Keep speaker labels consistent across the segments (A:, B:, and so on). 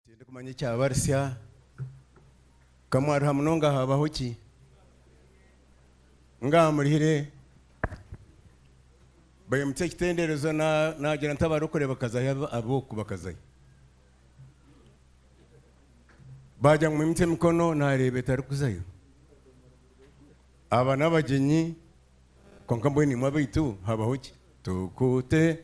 A: Tindikumanya ekyabarisya. Ka mwaruha munonga haabaho ki? Ngaaha murihire. Baimukye ekitenderezo naagira nti abarikurebekazayo ab'okubakazayo. Baagira ngu mwimukye emikono naareeba etarikuzayo. Aba n'abagyenyi kwonka mbwenu imwe abaitu haabaho ki? Tukute.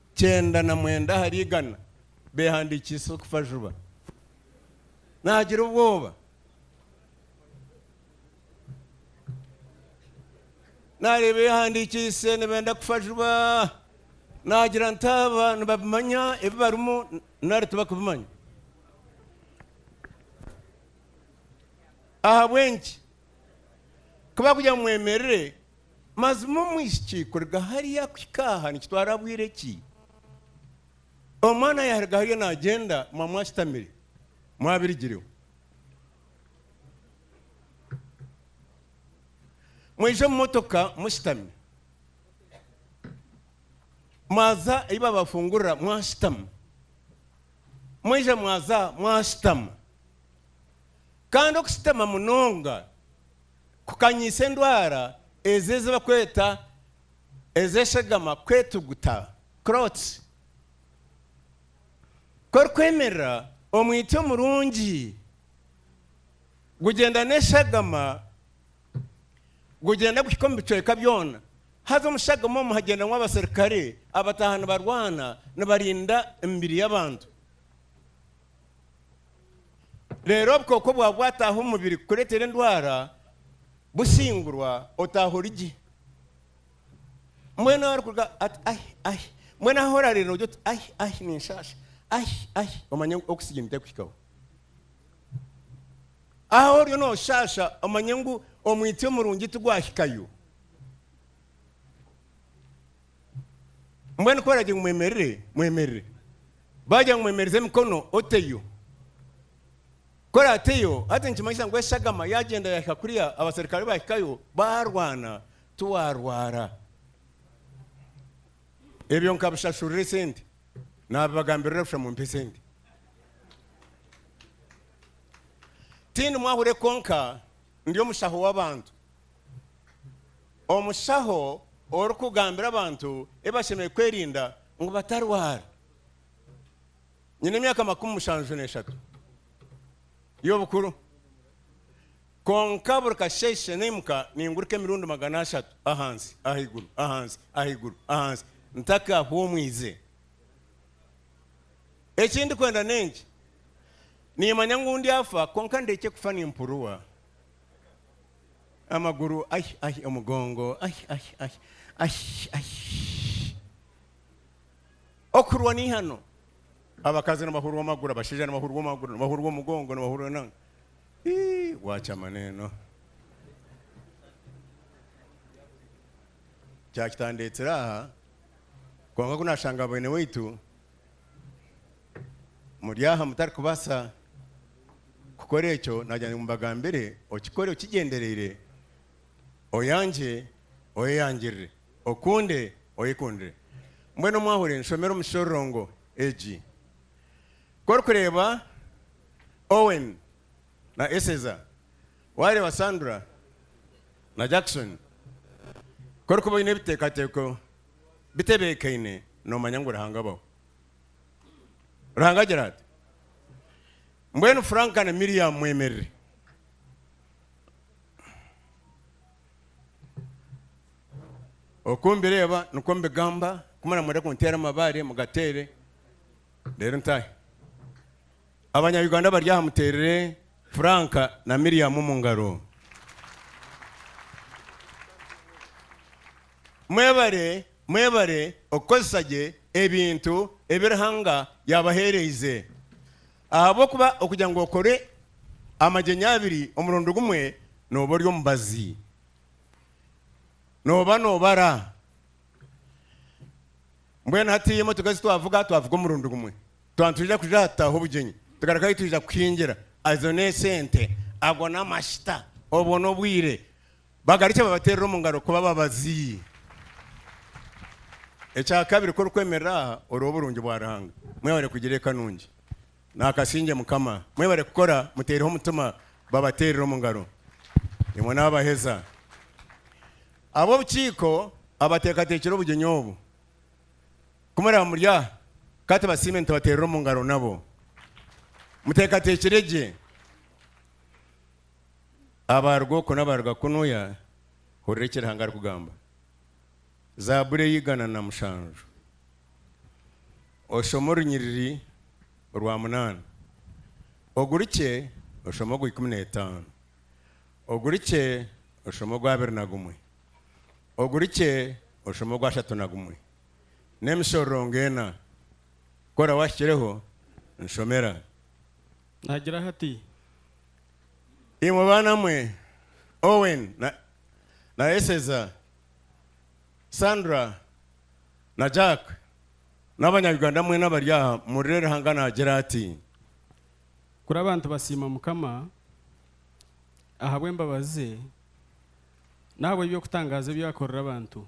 A: Kyenda na mwenda ahari igana beehandiikiise okufa juba. Naagira obwoba. Naareeba ebihandiikiise nibenda kufa juba. Naagira nti aba nibabimanya ebi barimu nari tibakubimanya? Ahabw'enki? Ku barikugira ngu mwemerere. Mazima omwishiki kuruga hariya kuhika aha nikitwara bwire ki? Omwana yaruga hariya nagyenda mwamu ashutamire, mwabirigireho. Mwija omu motoka mushutami, mwaza ahi babafungurira mwashutama, mwija mwaza mwashutama. Kandi okushutama munonga kukanyisa endwara ezi ezi barikweta ez'eshegama kwetuguta, clots. Ku orikwemerera, omwitsyo omurungi gugyenda n'eshagama gugyenda guhika omu bicweka byona. Haza omu shagama omu hagyendamu abaserukare abataaha nibarwana nibarinda emibiri y'abantu. Reero obukooko bwaba bwataaha omu mubiri kukureetera endwara, bushingurwa otaaha ori gye. Mbwenu arikuruga ati ahi ahi, mbwenu ahu oraareera nogira oti ahi ahi ninshaasha, ahi ahi omanye ngu oxygen terikuhikaho. Ahu oriyo nooshaasha omanye ngu omwitsyo murungi tigwahikayo. Mbwenu ku baragira ngu mwemerere, mwemerere. Baagira ngu mwemereze emikono, oteyo. Ku oraateyo, hati nikimanyisa ngu eshagama yaagyenda yaahika kuriya, abaserukare baahikayo, baarwana, tiwaarwara. Ebyo nkabishashurira esente. Naabibagambirira busha mumpe esente. Tindi mwahurwe kwonka ndi omushaho w'abantu. omushaho orikugambira abantu ebi bashemereire kwerinda ngu batarwara. Nyine emyaka makumi mushanju n'eshatu y'obukuru, kwonka buri kasheeshe naimuka ningurika emirundi magana ashatu ahansi, ahaiguru, ahansi, ahaiguru, ahansi ntakahumwize. Eki ndikwenda n'enki, Niimanya ngu ndyafa, kwonka ndeekye kufa nimpuruwa Amaguru ai ai omugongo ai ai ai ai ai. Okurwa ni hano. Abakazi nibahurwa amaguru, abashaija nibahurwa amaguru, nibahurwa omugongo, nibahurwa na. Ii, wakyama neno. Kyakitandetsire aha kwonka ku nashanga bene waitu muri aha mutarikubaasa kukora ekyo naagira ngu mbagambire, okikore okigyendereire, oyangye, oyeyangirire, okunde, oyekundire. Mbwenu mwahuri nshomera omu shororongo egi. Ku orikureeba Owen na Eseza, waareeba Sandra na Jackson, ku orikuba oine ebiteekateeko bitebeekaine, noomanya ngu Ruhanga abaho. ruhanga agira ati mbwenu franka na miriyamu mwemerere oku mbireeba nikwo mbigamba kumara mwere kunteera amabaare mugateere reero ntahe Abanya Uganda abari aha muterere Frank na Miriam omu ngaro. Mwebare mwebare okukozesa gye ebintu ebi Ruhanga yabahereize. Ahabw'okuba okugira ngu okore amagyenya abiri omurundi gumwe noba ori omubazi. Noba nobara. Mbwenu hati emotoka ezi twavuga twavuga omurundi gumwe. Twaba nitwija kuja aha kutaaha obugyenyi, tugarukayo twija kuhingira. Ezo n'esente. Ago n'amashita. Obwo n'obwire. Bagarukye babateerere omu ngaro kuba ababazi. Ekya kabiri, ku orikwemerera aha, oreba oburungi bwa Ruhanga. Mwebare kugira eka nungi. Naakasingye Mukama. Mwebare kukora, muteereho omutima. Babateerere omu ngaro. Nimwo naabaheza. Ab'obukiiko abateekateekire obugyenyi obu. Ku muraaba muri aha, ka tubasiime nitubateerera omu ngaro nabo. Muteekateekire gye, abaaruga oku n'abaaruga kunuya, hurira eki Ruhanga arikugamba. Zaaburi ey'eigana na mushanju. Oshome orunyiriri orwa munaana. Ogurukye oshome ogwa ikumi n'etaano. Ogurukye oshome ogw'abiri na gumwe. Ogurukye oshome ogw'ashatu na gumwe. n'emishororongo ena. Kora wahikireho, nshomera.
B: Nagiraho ati.
A: Imwe baana mwe, Owen na, na Eseza, Sandra na Jack, n'abanya Uganda mwena abari aha, murire Ruhanga naagira ati.
B: Kuri abantu basiima Mukama ahabw'embabazi ze n'ahabw'eby'okutangaaza ebi akorera abantu.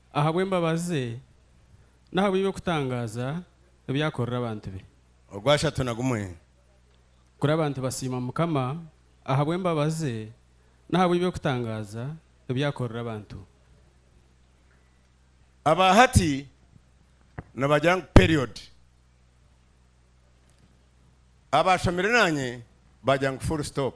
B: ahabw'embabazi ze n'ahabw'eby'okutangaaza ebi akorera abantu be. Ogwashatu na gumwe.
A: Kuri
B: abantu basiima Mukama ahabw'embabazi ze n'ahabw'eby'okutangaaza ebi akorera abantu.
A: Aba hati nibagira ngu period. Abaashomire naanye bagira ngu full stop.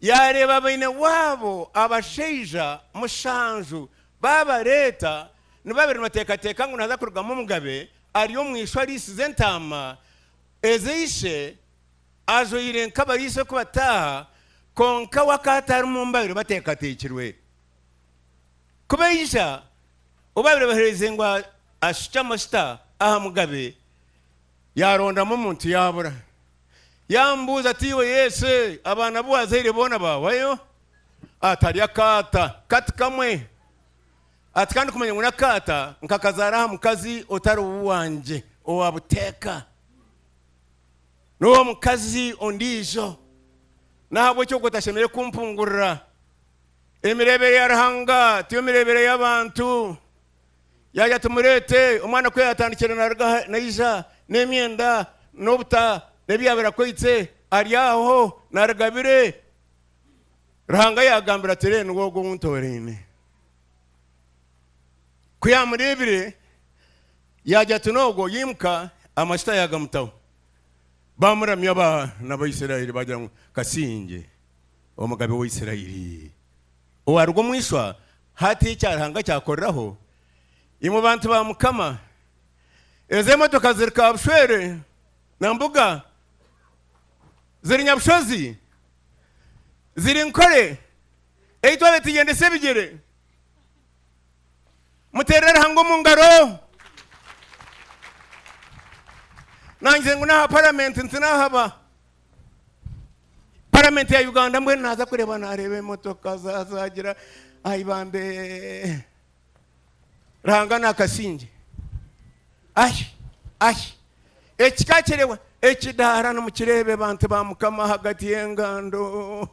A: yaareeba baine waabo abashaija mushanju baabareeta, ni babiri nibateekateeka ngu nihaza kurugamu omugabe ari omu ishwa ariisize entaama eze ishe ajwaire nk'abariisa oku bataaha, kwonka we akaba atarimu mubabire bateekateekirwe kubaija, obu baabire bahereize ngu ashukye amajuta aha mugabe Yaarondamu omuntu yaabura. Yaamubuuza ati, Iwe Yesu, abaana abu waazaire boona baawayo? Atari akaata kati kamwe. Ati, Ka ndikumanya ngu n'akaata nkakazaara aha mukazi otari owangye owa buteeka, n'ow'omukazi ondiijo. N'ahabw'ekyo okwo tashemereire kumpungurira. Emireebere ya Ruhanga tiyo mireebere y'abantu. Yaagira ati, Mureete omwana ku yaatandikire naaruga aha naija, n'emyenda, n'obuta, n'ebi yaabaire akwaitse, ari aho naaruga bire. Ruhanga yaagambire ati, Re, niwe ogwo ou ntooraine. Ku yaamureebire, yaagira ati, N'ogwo, yaimuka, amajuta yaagamutaho. Baamuramya abaana ba Isiraeli baagira ngu, Ka singye omugabe wa Isiraeli. owaaruga omu ishwa, hati ekya Ruhanga kyakoreraho imwe bantu ba Mukama. Ezo emotoka ziri kabushwere na mbuga, ziri nyabushozi, ziri nkore, eitwe abetugyendesa ebigyere muterere Ruhanga omu ngaro. Nangire ngu n'aha paramenti ntinahaba. paramenti ya uganda mbwenu naaza kureeba naareeba emotoka za- zagira aibambe ranga nakasingye ahi ahi ekika kirewa ekidaara nimukireebe bantu ba mukama ahagati y'engando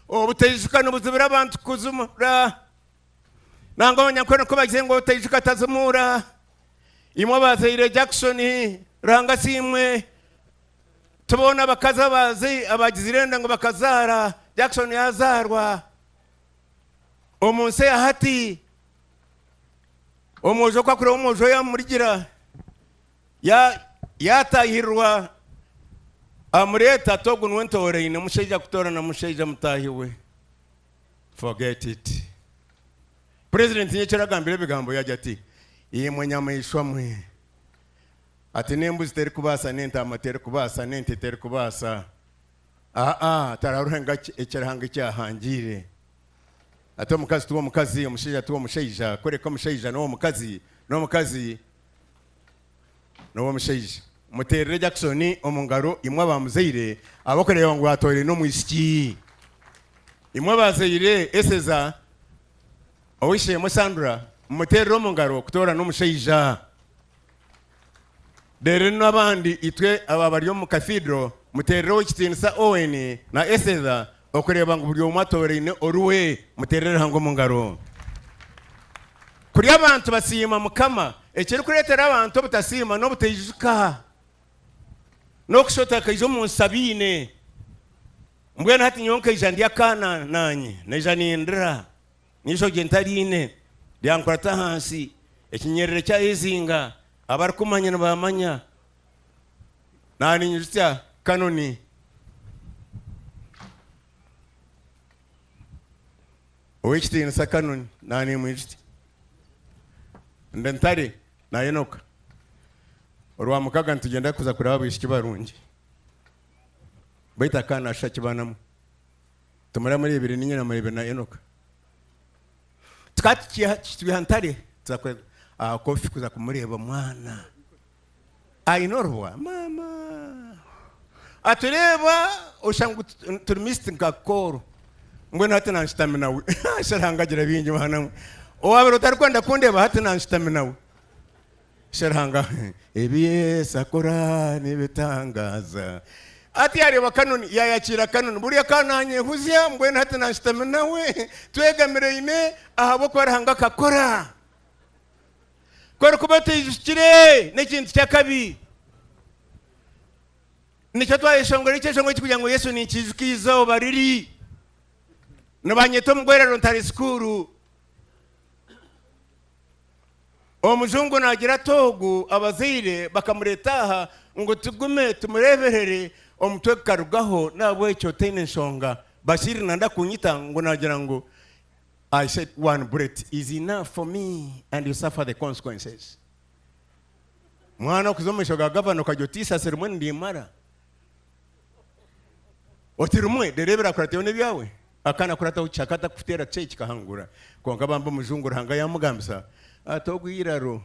A: obutaijuka nibuzibira abantu kuzuma ra Nangwa abanyankore nikwo bagire ngu otaijuka tazimuura. Imwe abazaire Jackson, ranga si imwe. Ti boona abakazi abazi abagizire enda ngu bakazaara. Jackson yaazaarwa omu nsi eya hati. Omwojo ku akureeba omwojo we yaamurigira, ya- yaataahirirwa amureeta ati ogu niwe ntooraine. Mushaija kutoorana mushaija mutaahi we. Forget it. Purezidenti nyekyiro agambire ebigambo yagya ati, Imwe nyamaishwa mwe! Ati, N'embuzi terikubaasa, n'entaama terikubaasa, n'ente terikubaasa. Aa-a, tararuhe ngu aki eki Ruhanga eki ahangiire. Ati, Omukazi tiw'omukazi, omushaija tiw'omushaija, kureka omushaija n'ow'omukazi, n'omukazi N'owo omushaija. Muteerere Jackson omu ngaro imwe abaamuzaire abarikureeba ngu atooraine omwishiki. Imwe abaazaire eseza ow'eishe-emwe Sandra, mumuteerere omu ngaro kutoorana omushaija. Reero n'abandi itwe abaabari omu Cathedral, muteerereho Ow'ekitiinisa Owen na Eseza okureeba ngu buri omwe atooraine oruwe. Muteerere Ruhanga omu ngaro. Kuri abantu basiima Mukama, ekirikureetera abantu obutasiima n'obutaijuka, n'okushusha otakaija omu nsi abaine. Mbwenu hati nyowe nkaija ndi akaana naanye, naija nindira, n'eishokye ntariine, byankurata ahansi, ekinyerere kyayezinga, abarikumanya nibaamanya, Naani nyijukya Kanoni. Ow'ekitiinisa Kanoni, naani mwijukya. Ndi Ntare na Enoka. Orwamukaaga nitugyenda kuza kuraba abaishiki barungi. Beitu akaana ashusha kibanamu. Tumara mureebire ninye na mureebire na Enoka. Tukaba tukyiha aha Ntare tuza kuza aha Kofi kuza kumureeba mwana. aine orubwa mama atureeba oshusha ngu turi mist nka kooro mbwenu hati nanshutami nawe sha ruhanga agira bingi mwana mwe owabire otarikwenda kundeeba hati nanshutami nawe sha ruhanga ebi yesu akora nibitangaza ati yareeba kanoni yayakiira kanoni buri akananyehuzya mbwenu hati nanshutami nawe twegamiraine ahabw'okuba ruhanga akakora Ku erikuba etwijukire n'ekintu ky'akabi. Nikyo twayeshongora ekyeshongoro eki kugira ngu Yesu ninkiijuka eizooba riri. Nibanyeta omugwerero ntari sikuuru. Omujungu naagira ati ogu abazaire bakamureeta aha ngu tugume tumureeberere omutwe gukarugaho n'ahabw'ekyo taine nshonga. Bashir nanda kunyita ngu naagira ngu I said one bullet is enough for me and you suffer the consequences mwana okuza omumaisho ga gavana okagya oti isasi rimwe nirimara oti rimwe rero ebirakuratayo nebyawe akana kurataho kishaka atakufutera kishaka ekikahangura konka bambi omujungu ruhanga yamugambisa ati ogwiraro